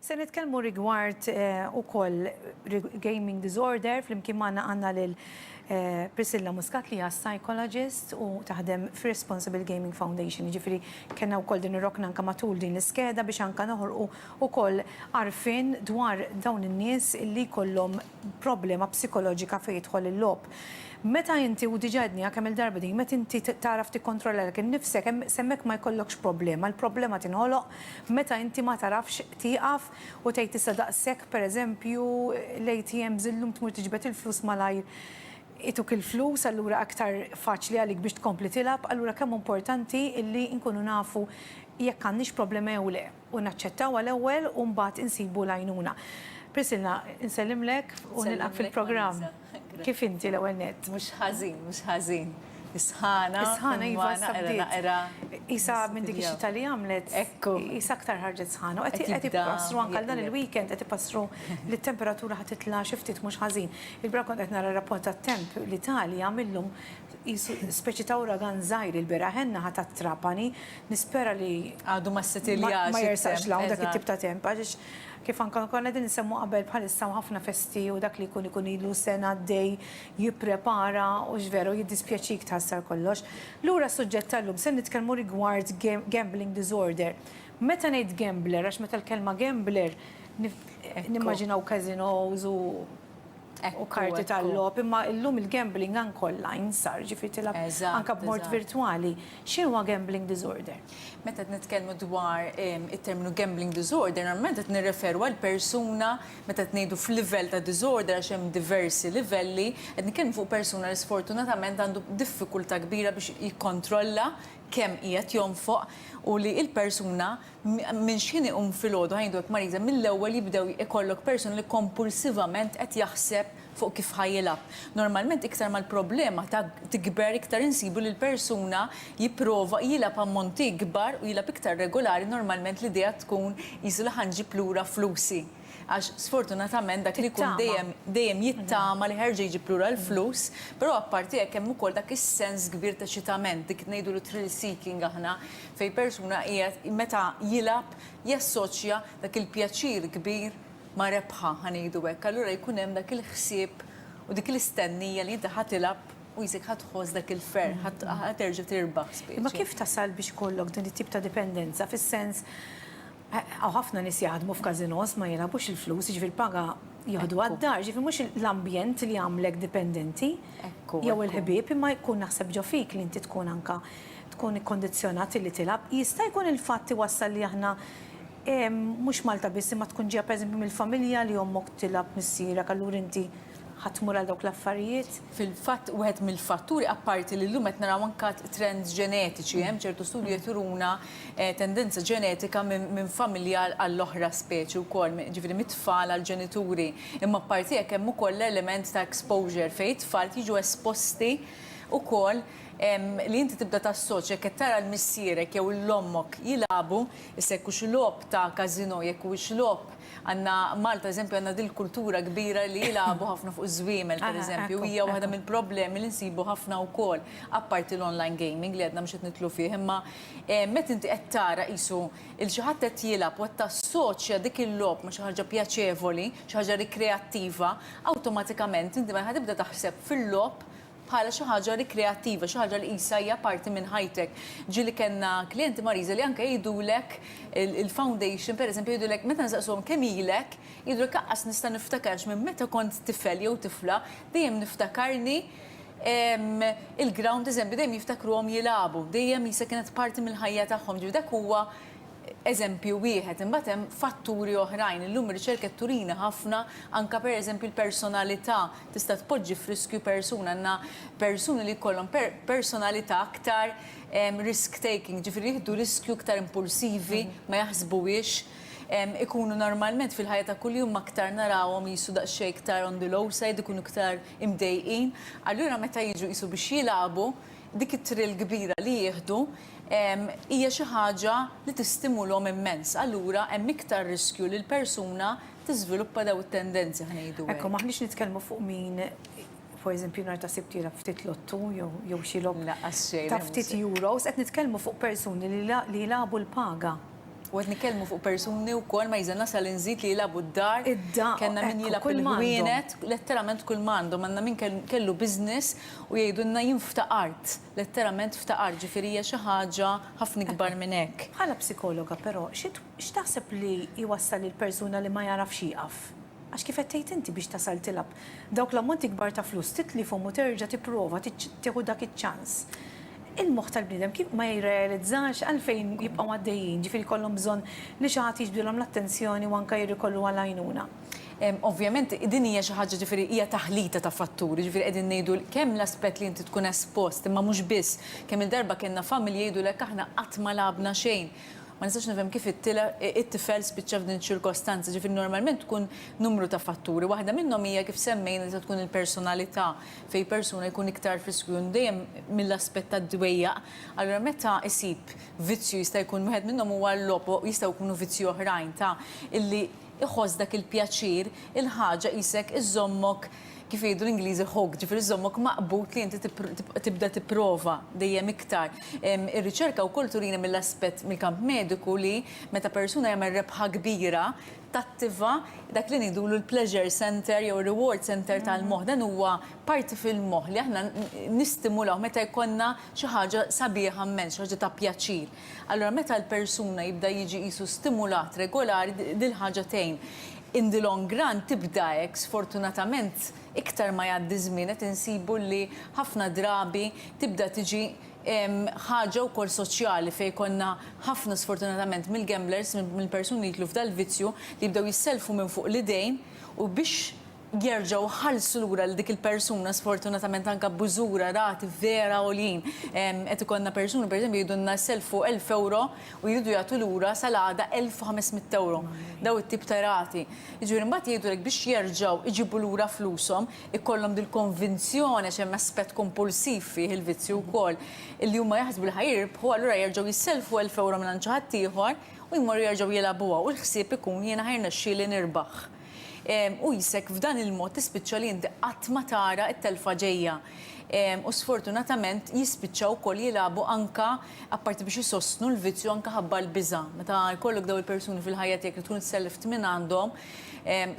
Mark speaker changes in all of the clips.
Speaker 1: Se nitkellmu rigward eh, ukoll gaming disorder flimkien magħna għandna lil eh, Priscilla Muscat li hija psychologist u taħdem fi Responsible Gaming Foundation. Ġifieri kellna wkoll din ir-rokna anke matul din l-iskeda biex anke noħorqu ukoll arfin dwar dawn in-nies li kollhom problema psikoloġika fejn jidħol il-logħob. Meta inti, u diġà għedniha kemm-il darba din, meta inti tagħraf tikkontrollalek innifsek, hemm s'hemmhekk ma jkollokx problema. Il-problema tinħoloq meta inti ma tagħrafx tieqaf u tgħid issa daqshekk, pereżempju, l-ATMs illum tmur tiġbed il-flus malajr ituk il-flus, allura aktar faċli għalik biex tkompli tilgħab, allura kemm hu importanti illi nkunu nafu jekk għandniex problema jew le. u naċċettaw għal-ewwel u mbagħad insibu l-għajnuna. Priscilla, insellimlek u nilqgħek fil-programm. Kif inti l-ewwel nett? Mhux ħażin, mhux ħażin. Is-sħana. Is-sħana iva issa bdiet. Naqra naqra. Qisha minn dik ix-xita li għamlet. Ekku. Qisha aktar ħarġet sħana. Qed tibda. Qed ipassru anke għal dan il-weekend qed ipassru li t-temperatura ħa titla' xi ftit mhux ħażin. Il-bieraħ kont qed nara r-rapport tat-temp li Italja mil-lum qisu speċi ta' uragan żgħir il-bieraħ għenna ħa tat-Trapani Nispera li għadu ma ssetiljax. Ma jersaqx 'l hawn dak it-tip ta' temp għaliex kif anke konna qegħdin insemmu qabel bħalissa hemm ħafna festi u dak li jkun ikun ilu sena għaddej jipprepara u x'veru jiddispjaċik tħassar kollox. Lura s-suġġett tal-lum se nitkellmu rigward gambling disorder. Meta ngħid gambler għax meta l-kelma gambler nimmaġinaw casinos u u karti tal-logħob, imma llum il-gambling anke online sar, ġifieri tilgħab anke b'mod virtwali. X'inhuwa gambling disorder? Meta qed nitkellmu dwar it-terminu gambling disorder, normalment qed nirreferu għal persuna, meta qed ngħidu f'livell ta' disorder għax hemm diversi livelli, qed nitkellmu fuq persuna li sfortunatament għandu diffikultà kbira biex jikkontrolla kemm qiegħed jonfoq u li l-persuna Minn x'ħin iqum filgħodu, ħajjin dwar Marisa, mill-ewwel jibdew ikollok persuna li kompulsivament qed jaħseb fuq kif ħa jilgħab. Normalment iktar ma l-problema tikber iktar insibu li l-persuna jipprova jilgħab ammonti ikbar u jilgħab iktar regulari normalment l-idea tkun qisu li ħa nġib lura flusi. Għax sfortunatament dak li jkun dejjem dejjem jittama li ħerġa' jġib lura l-flus, però apparti hekk hemm ukoll dak is-sens kbir ta' eċitament, dik ngħidulu thrill seeking aħna, fejn persuna qiegħed meta jilgħab jassoċja dak il-pjaċir kbir ma' rebħa, ħa ngħidu hekk. Allura jkun hemm dak il-ħsieb u dik l-istennija li inti ħa tilgħab u qisek ħa tħoss dak il-ferħ, ħa terġa' tirbaħ speċi. Imma kif tasal biex ikollok din it-tip ta' dipendenza fis-sens Hawn ħafna nies jaħdmu f'każinòs ma jilgħabux il-flus, jiġifieri l-paga jieħdu għad-dar, jiġifieri mhux l-ambjent li jagħmlek dipendenti jew il-ħbieb imma jkun naħseb ġo fik li inti tkun anke tkun ikkondizzjonat illi tilgħab. Jista' jkun il-fatt iwassal li aħna mhux Malta biss imma tkun ġejja pereżempju mill-familja li ommok tilgħab missierek allura inti ħa tmur għal dawk l-affarijiet? Fil-fatt wieħed mill-fatturi, apparti li llum qed naraw anke trends ġenetiċi, hemm ċertu studji qed juruna tendenza ġenetika minn familja għall-oħra speċi wkoll, jiġifieri mit-tfal għall-ġenituri. Imma apparti hekk hemm ukoll l-element ta' exposure fejn it-tfal jiġu esposti wkoll li inti tibda tassoċja jekk qed tara 'l missierek jew 'l ommok jilagħbu, issa jekk hux logħob ta' każinò, jekk huwiex logħob, Għandna Malta, eżempju, għandna din il-kultura kbira li jilagħbu ħafna fuq iż-żwiemel, pereżempju, u hija waħda mill-problemi li nsibu ħafna wkoll, apparti l-online gaming li għadna mhux qed nidħlu fih, imma meta inti qed tara qisu il xi ħadd qed jilgħab u qed tassoċja dik il-logħob ma' xi ħaġa pjaċevoli, xi ħaġa rikreattiva, awtomatikament inti mela ħa tibda taħseb fil-logħob bħala xi ħaġa rikreattiva, xi ħaġa li qisha hija parti minn ħajtek. Ġieli kellna klijenti Mariża li anke jgħidulek il-foundation pereżempju jgħidulek meta nsaqsuhom kemm ilek, jgħidulek laqqas nista' niftakar għax minn meta kont tifel jew tifla dejjem niftakarni il-ground eżempju dejjem jiftakruhom jilagħbu, dejjem qisha kienet parti mill-ħajja tagħhom. Jiġifieri dak huwa eżempju wieħed. Imbagħad hemm fatturi oħrajn. Illum ir-riċerka qed turina ħafna anke pereżempju l-personalità tista' tpoġġi f'riskju persuna. Għandna persuni li jkollhom personalità aktar risk taking, ġifieri jieħdu riskju iktar impulsivi, ma jaħsbuhiex, ikunu normalment fil-ħajja ta' kuljum aktar narawhom qisu daqsxejn iktar on the low side, ikunu iktar imdejqin. Allura meta jiġu qisu biex jilagħbu, dik it-thrill kbira li jieħdu hija xi ħaġa li tistimulhom immens. Allura hemm iktar riskju li l-persuna tiżviluppa dawn it-tendenzi ħa ngħidu hekk. Ekku, m'aħniex nitkellmu fuq min for eżempju nhar ta' Sibt jilgħab ftit lottu jew xi logħob ta' ftit euros, qed nitkellmu fuq persuni li jilagħbu l-paga. U qed nitkellmu fuq persuni wkoll ma jiżel nasal inżid li jilagħbu d-dar. Id-dar. Kellna min jilgħab il-ħwienet, letteralment kull m'għandhom. Għandna min kellu business u jgħidulna jien ftaqart, letteralment ftaqart, ġifieri hija xi ħaġa ħafna ikbar minn hekk. Bħala psikologa però, X'taħseb li jwassal lil persuna li ma jagħraf x'jieqaf? Għax kif qed tgħid inti biex tasal tilgħab dawk l-ammonti kbar ta' flus titlifhom u terġa' tipprova tieħu dak iċ-ċans. Il-moħħ tal-bniedem kif ma jirrealizzax għalfejn jibqgħu għaddejjin, ġifieri jkollhom bżonn li xi ħadd jiġbdilhom l-attenzjoni u anke jirrikorru għal għajnuna. Ovvjament din hija xi ħaġa ġifieri hija taħlita ta' fatturi, ġifieri qegħdin ngħidu kemm l-aspett li inti tkun espost imma mhux biss. Kemm-il darba kellna familji jgħidulek aħna qatt ma lagħabna xejn, Ma nistax nifhem kif it-tifel spiċċa f'din iċ-ċirkostanza. Jiġifieri normalment tkun numru ta' fatturi. Waħda minnhom hija kif semmejna tista' tkun il-personalità fejn persuna jkun iktar friskwjun dejjem mill-aspett tad-dwejjaq. Allura meta jsib vizzju jista' jkun wieħed minnhom huwa l-logħob u jistgħu jkunu vizzji oħrajn ta' illi iħoss dak il-pjaċir, il-ħaġa qisek iżżommok kif jgħidu l-Ingliżi hooked, ġifieri żżommok maqbud li inti tibda tipprova dejjem iktar. Ir-riċerka wkoll turina mill-aspett mill-kamp mediku li meta persuna jagħmel rebħa kbira tattiva dak li ngħidulu l-pleasure centre jew ir-reward centre tal-moħħ. Dan huwa parti fil-moħħ li aħna nistimulawh meta jkollna xi ħaġa sabiħa mmens, xi ħaġa ta' pjaċir. Allura meta l-persuna jibda jiġi qisu stimulat regolari din il-ħaġa tgħin. In the long run tibda hekk, sfortunatament iktar ma jgħaddi ż-żmien qed insibu li ħafna drabi tibda tiġi ħaġa wkoll soċjali fejn jkollna ħafna sfortunatament mill-gamblers, mill-persuni li jidħlu f'dal-vizzju li jibdew jissellfu minn fuq l-idejn u biex, jerġgħu jħallsu lura lil dik il-persuna sfortunatament anke b'użura rati vera għoljin. Qed ikollna persuni pereżempju jgħidulna jselfu 1000 ewro u jridu jagħtu lura sal-għada 1500 ewro. Dawn it-tip ta' rati. Jiġifieri mbagħad jgħidulek biex jerġgħu jġibu lura flushom ikollhom dil-konvinzjoni għax hemm aspett kompulsiv fih il-vizzju wkoll li huma jaħsbu li ħa jirbħu allura jerġgħu jselfu 1000 ewro mingħand xi ħaddieħor u jmorru jerġgħu jilgħabuha u l-ħsieb ikun jiena ħa jirnexxieli nirbaħ. U jisek f'dan il-mod tispiċċa li inti qatt ma tara t-telfa ġejja. U sfortunatament jispiċċaw ukoll jilagħbu anke apparti biex isostnu l-vizzju anke ħabba l-biża'. Meta jkollok dawn il-persuni fil-ħajja tiegħek li tkun isselleft minn għandhom,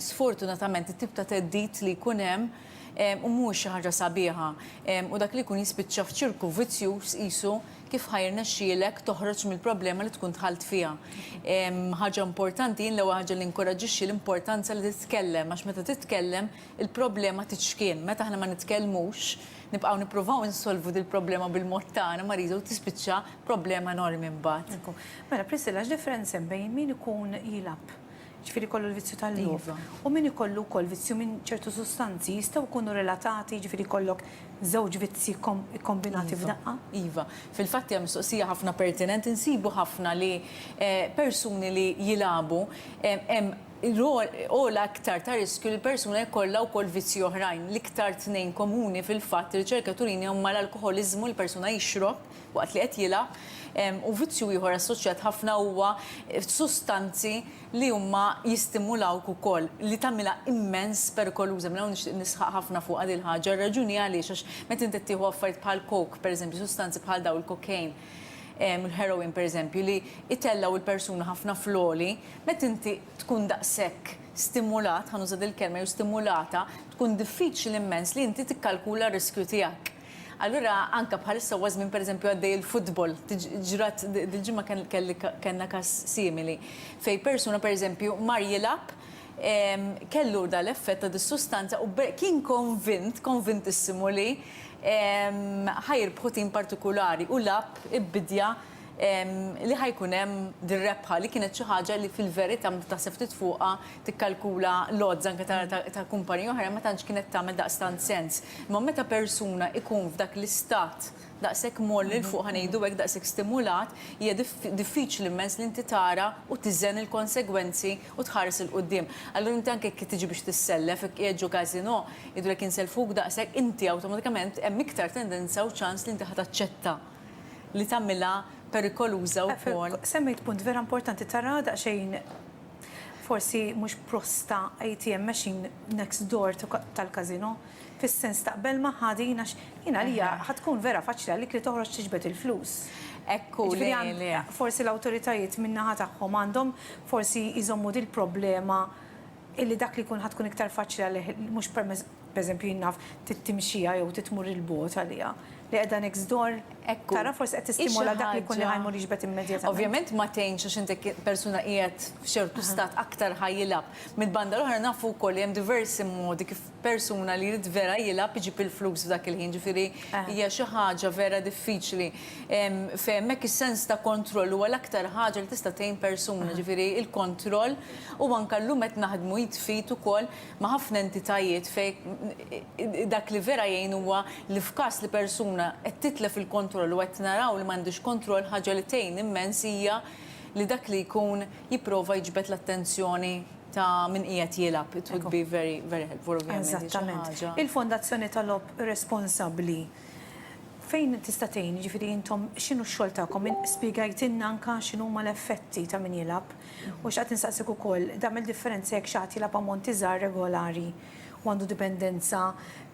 Speaker 1: sfortunatament it-tip ta' theddid li jkun hemm mhuwiex xi ħaġa sabiħa. U dak li jkun jispiċċa f'ċirku vizzjuż qisu kif ħa jirnexxielek toħroġ mill-problema li tkun dħalt fiha. Ħaġa importanti, jien l-ewwel ħaġa li inkoraġġixxi l-importanza li titkellem, għax meta titkellem il-problema titxkien. Meta aħna ma nitkellmux, nibqgħu nippruvaw insolvu dil-problema bil-mod tagħna, mariża u tispiċċa problema enormi mbagħad. Mela Priscilla, x'differenza hemm bejn min ikun jilgħab jiġifieri jkollu l-vizzju tal-logħob, u min ikollu wkoll vizzju minn ċertu sustanzi jistgħu jkunu relatati, jiġifieri jkollok żewġ vizzji kkombinati f'daqqa? Iva. Fil-fatt hija mistoqsija ħafna pertinenti, nsibu ħafna li persuni li jilagħbu hemm għola iktar ta' riskju li persuna jkollha wkoll vizzji oħrajn. L-iktar tnejn komuni fil-fatt ir-riċerka turina huma l-alkoħoliżmu, li persuna jixrob, waqt li qed jilgħab, u vizzju ieħor assoċjat ħafna huwa sustanzi li huma jistimulawk ukoll, li tagħmilha immens perikoluża. Minn hawn nixtieq nisħaq ħafna fuqha din il-ħaġa, r-raġuni għaliex għax meta inti qed tieħu affarijiet bħal coke, pereżempju sustanzi bħal dawn il-cocaine, il-heroin pereżempju, li jtellgħu l-persuna ħafna fl-għoli, meta inti tkun daqshekk stimulat, ħa nuża dil-kelma, jew stimulata, tkun diffiċli immens li inti tikkalkula r-riskju tiegħek. Allura anke bħalissa huwa żmien pereżempju għaddej il-futbol, ġrat dil-ġimgħa kellna każ simili fejn persuna pereżempju mar jilgħab kellu dan l-effett ta' dis-sustanza u kien konvint, konvintissimu li ħa jirbħu tim partikulari u lagħab ibbidja li ħa jkun hemm dir-rebħa li kienet xi ħaġa li fil-verità meta taħseb ftit fuqha tikkalkula l-odds anke ta' kumpaniji oħra ma tantx kienet tagħmel daqstant sens. Imma meta persuna ikun f'dak l-istat daqshekk mgħolli l fuq ħa ngħidu hekk daqshekk stimulat, hija diffiċli immens li inti tara u tiżen il-konsegwenzi u tħares 'il quddiem. Allura inti anke jekk tiġi biex tissellef, jekk qiegħed ġo casino, jgħidulek insellfuk daqshekk, inti awtomatikament hemm iktar tendenza u ċans li inti ħa taċċetta. li tagħmilha perikoluża wkoll. Semmejt punt vera importanti, tara daqsxejn forsi mhux prosta ATM machine next door tal-casino, fis-sens taqbel magħha din għax jien għalija ħa tkun vera faċli għalik li toħroġ tiġbed il-flus. Hekk hu, le, le. Forsi l-awtoritajiet min-naħa tagħhom għandhom forsi jżommu dil-problema illi dak li jkun ħa tkun iktar faċli għalih mhux permezz pereżempju jien naf tittimxija jew titmur 'il bogħod għaliha li qiegħda next door tara forsi qed tistimola dak li jkun li ħa jmur jiġbed immedjatament. Ovvjament ma tgħinx għax inti persuna qiegħed f'ċertu stat aktar ħa jilgħab. Mill-banda l-oħra nafu wkoll li hemm diversi modi kif persuna li jrid vera jilgħab iġib il-flus f'dak il-ħin, ġifieri hija xi ħaġa vera diffiċli. F'hemmhekk is-sens ta' kontroll huwa l-aktar ħaġa li tista' tgħin persuna, ġifieri l-kontroll u anke llum qed naħdmu id f'id ukoll ma' ħafna entitajiet fejn dak li vera jgħin huwa li f'każ li persuna qed titlef il-kontroll u qed naraw li m'għandhiex kontroll ħaġa li tgħin immens hija li dak li jkun jipprova jiġbed l-attenzjoni ta' min qiegħed jilgħab, it would be very, very helpful ovvjament, hi xi ħaġa. Il-fondazzjoni tal-logħob responsabbli fejn tista' tgħin, jiġifieri intom x'inhu x-xogħol tagħkom? Spjegajtilna anke x'inhuma l-effetti ta' min jilgħab u xtaqt insaqsik ukoll, tagħmel differenza jekk xi ħadd jilgħab ammonti żgħar regolari u għandu dipendenza,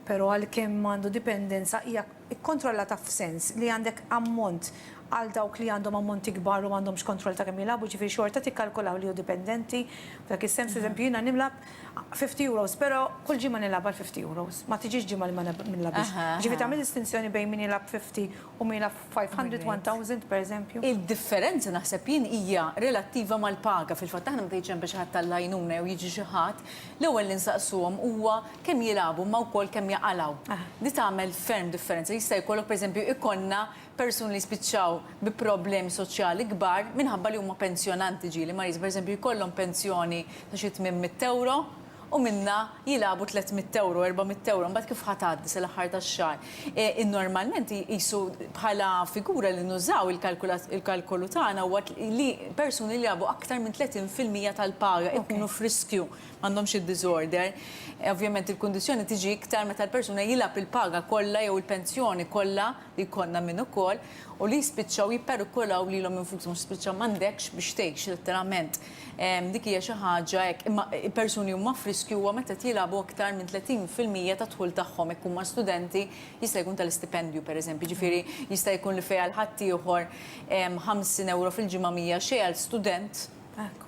Speaker 1: però għalkemm għandu dipendenza hija Ikkontrolla taf f'sens li għandek ammont għal dawk li għandhom ammonti kbar u m'għandhomx kontroll ta' kemm jilagħbu, ġifieri xorta tikkalkulaw li hu dipendenti, f'dak is-sens, pereżempju jiena nilgħab 50 euros però kull ġimgħa nilgħab għal 50 euros, ma tiġix ġimgħa li ma nilgħabx. Ġifieri tagħmel distinzjoni bejn min jilgħab 50 u min jilgħab 500, 1000, pereżempju. Id-differenza naħseb jien hija relattiva mal-paga, fil-fatt aħna meta jiġi hemm biex iħattar l-għajnuna jew jiġi xi ħadd, l-ewwel li nsaqsuhom huwa kemm jilagħbu imma wkoll kemm jaqalgħu. Di tagħmel ferm differenza. Jista' jkollok pereżempju ikollna persuni li jispiċċaw bi problemi soċjali kbar minħabba li huma pensjonanti ġieli ma jista' pereżempju jkollhom pensjoni ta' xi tmien mitt ewro u minnha jilagħbu tliet mitt ewro, erba' mitt ewro, imbagħad kif ħa tgħaddi sal-aħħar tax-xahar. I normalment iqisu bħala figura li nużaw il-kalkulat il-kalkolu tagħna huwa li persuni li jilagħbu aktar minn tletin fil-mija tal-paga jkunu f'riskju għandhom xi disorder. Ovvjament il-kundizzjoni tiġi iktar meta l-persuna jilgħab il-paga kollha jew il-pensjoni kollha li jkollna minn ukoll u li jispiċċaw jipperikolaw lilhom infushom għax spiċċa m'għandekx biex tgħix letteralment. Dik hija xi ħaġa hekk. Imma persuni huma f'riskju huwa meta qed jilgħabu aktar minn 30 fil-mija tad-dħul tagħhom. Jekk huma studenti jista' jkun tal-istipendju pereżempju. Jiġifieri jista' jkun li fejn għal ħaddieħor 50 ewro fil-ġimgħa mhija xejn għal student,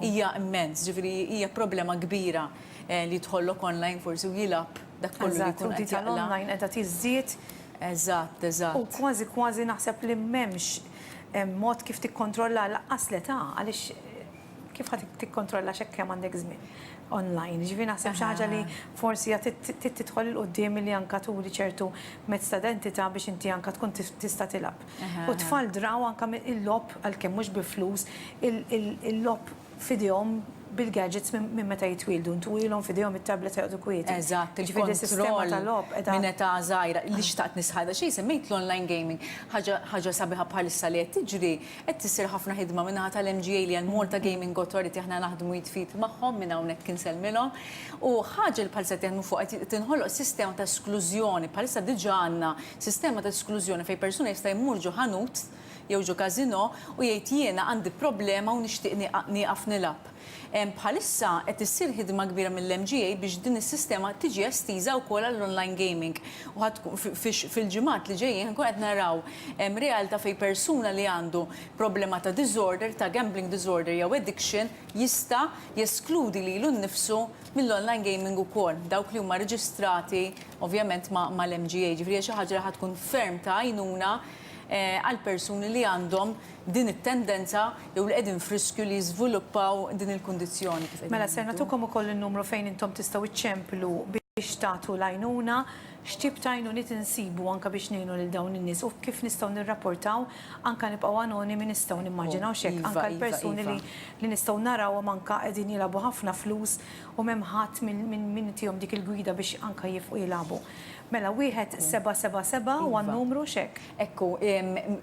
Speaker 1: hija immens, ġifieri hija problema kbira li jidħollok online forsi u jilgħab dak kollu li jkun qed jaqla'. Eżatt, u dik tal-online qiegħda tiżdied. Eżatt, eżatt. U kważi kważi naħseb li m'hemmx mod kif tikkontrollaha lanqas l-età għaliex kif ħa tikkontrollax hekk kemm għandek żmien online. Jiġifieri naħseb xi ħaġa li forsi hija trid tidħol 'il quddiem milli anke turi ċertu mezz ta' identità biex inti anke tkun tista' tilgħab. U t-tfal draw anke il-logħob għalkemm mhux bi flus, il-logħob f'idejhom bil-gadgets minn meta jitwieldu. Ntuwielhom f'idejhom it-tablets u joqogħdu kwieti. Eżatt, il-kontroll minn età żgħira. Li xtaqt nisħaq, daqsxejn semmejt l-online gaming. Ħaġa sabiħa bħalissa li qed tiġri, qed issir ħafna ħidma min-naħa tal-MGA li hija l-Malta Gaming Authority, aħna naħdmu id f'id magħhom, minn hawnhekk insellmilhom. U ħaġa li bħalissa qed jaħdmu fuqha, qed tinħoloq sistema ta' esklużjoni, bħalissa diġà għandna Sistema ta' esklużjoni fejn persuna jista' jmur ġo ħanut jew ġo każinò u jgħid jiena għandi problema u nixtieq nieqaf nilgħab. Bħalissa qed issir ħidma kbira mill-MGA biex din is-sistema tiġi estiża wkoll għall-online gaming u ħa tkun fil-ġimgħat li ġejjin ħa nkunu qed naraw realtà fejn persuna li għandu problema ta' diżorder, ta' gambling diżorder jew addiction jista' jeskludi lilu nnifsu mill-online gaming ukoll, dawk li huma reġistrati ovvjament mal-MGA. Ġifieri hija xi ħaġa li ħa tkun ferm ta' għajnuna għall-persuni li għandhom din it-tendenza jew li qegħdin f'riskju li jiżviluppaw din il-kundizzjoni kif qegħdin ngħidu. Mela ser nagħtukom ukoll in-numru fejn intom tistgħu ċċemplu biex tagħtu l-għajnuna x'tip ta' għajnuniet insibu anke biex ngħinu lil dawn in-nies u kif nistgħu nirrapportaw anke nibqgħu anonimi nistgħu nimmaġinaw x'hekk anke l-persuni li li nistgħu narawhom anke qegħdin jilagħbu ħafna flus u m'hemm ħadd minn minn minn itihom dik il-gwida biex anke jifqu jilagħbu. Mela wieħed seba' seba' seba' huwa n-numru x'hekk? Ekku,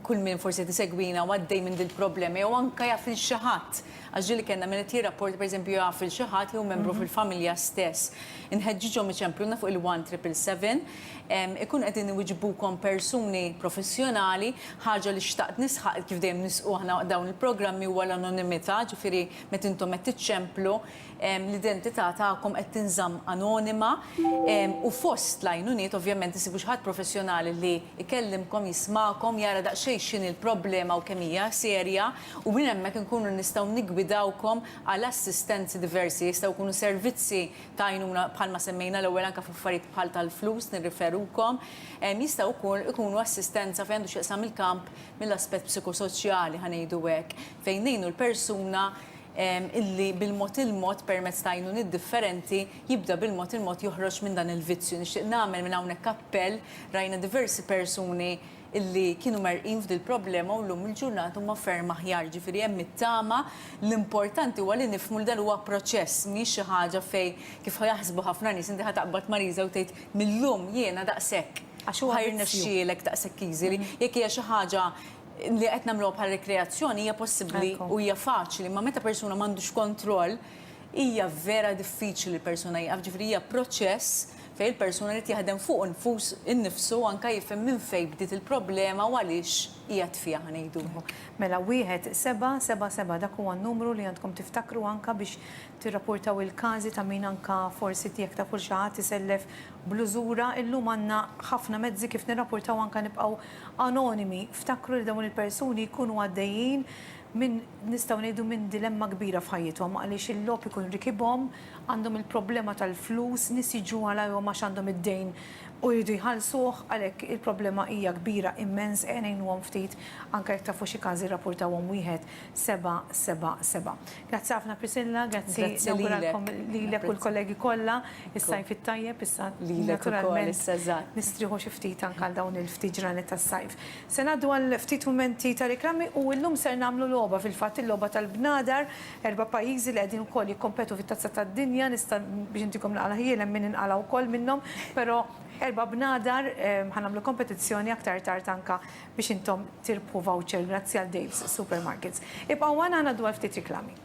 Speaker 1: kull min forsi qed isegwina u għaddej minn dil-problema jew anke jaf lil xi ħadd, Għax ġieli kellna min qed jirrapporta pereżempju jaf lil xi ħadd jew membru fil-familja stess. Inħeġġiġhom iċempluna fuq il-one triple seven. Ikunu qegħdin iwiġbukom persuni professjonali. Ħaġa li xtaqt nisħaq kif dejjem nisqu aħna waqt dawn il-programmi huwa l-anonimità, ġifieri meta intom qed tiċċemplu l-identità tagħkom qed tinżamm anonima u fost l-għajnuniet ovvjament issibu xi ħadd professjonali li jkellimkom, jismagħkom, jara daqsxejn x'inhi l-problema u kemm hija serja. u minn hemmhekk inkunu nistgħu niggwidawkom għal assistenzi diversi, jistgħu jkunu servizzi ta' għajnuna bħalma semmejna l-ewwel anke f'affarijiet bħal tal-flus nirriferukom, jistgħu wkoll ikunu assistenza fejn għandu x'jaqsam il-kamp mill-aspett psikosoċjali ħa ngħidu hekk, fejn ngħinu l-persuna illi bil-mod il-mod permezz ta' għajnuniet differenti jibda bil-mod il-mod joħroġ minn dan il-vizzju. Nixtieq nagħmel minn hawnhekk appell, rajna diversi persuni, illi kienu merrqin f'dil-problema u llum il-ġurnata huma ferm aħjar. Jiġifieri hemm it-tama, l-importanti huwa li nifhmu li dan huwa proċess, mhijiex xi ħaġa fejn kif ħa jaħsbu ħafna nies inti ħa taqbad ma' riża u tgħid mil-lum jiena daqshekk. Għax huwa vizzju. Ħa jirnexxielek daqshekk easy li jekk hija xi ħaġa li qed nagħmluha bħala rikreazzjoni hija possibbli u hija faċli imma meta persuna m'għandux kontroll hija vera diffiċli li persuna jieqaf. Jiġifieri hija proċess fejn il-persuna jrid jaħdem fuqu nfus innifsu anke jifhem minn fejn bdiet il-problema u għaliex qiegħed fiha ħa ngħiduha. Mela wieħed seba' seba' seba' dak huwa n-numru li għandkom tiftakru anke biex tirrapportaw il-każi ta' min anke forsi tiegħek taf u xi ħadd isellef bl-użura, illum għandna ħafna mezzi kif nirrapportaw anke nibqgħu anonimi, ftakru li dawn il-persuni jkunu għaddejjin minn nistgħu ngħidu minn dilemma kbira f'ħajjithom għaliex il-logħob ikun rikibhom, għandhom il-problema tal-flus, nies jiġu għalajhom għax għandhom id-dejn u jridu jħallsuh, għalhekk il-problema hija kbira immens, ejja ngħinuhom ftit, anke jekk tafu xi każi rrapurtawhom wieħed seba' seba' seba'. Grazzi ħafna Priscilla, grazzi nawguralkom lilek u l-kollegi kollha is-Sajf it-tajjeb, issa naturalment nistrieħu xi ftit anke għal dawn il-ftit ġranet tas-Sajf. Se ngħaddu għal ftit mumenti ta' riklami u llum ser nagħmlu logħba, fil-fatt il-logħba tal-bnadar, Erba' pajjiżi li qegħdin ukoll jikkompetu fit-Tazza tad-Dinja, nista' biex intikom l-għala ħjiel hemm min inqala' wkoll minnhom, però erba' bnadar ħa nagħmlu kompetizzjoni aktar tard anke biex intom tirbħu voucher grazzi għal Dave's Supermarkets. Ibqgħu magħna ħa ngħaddu għal ftit riklami.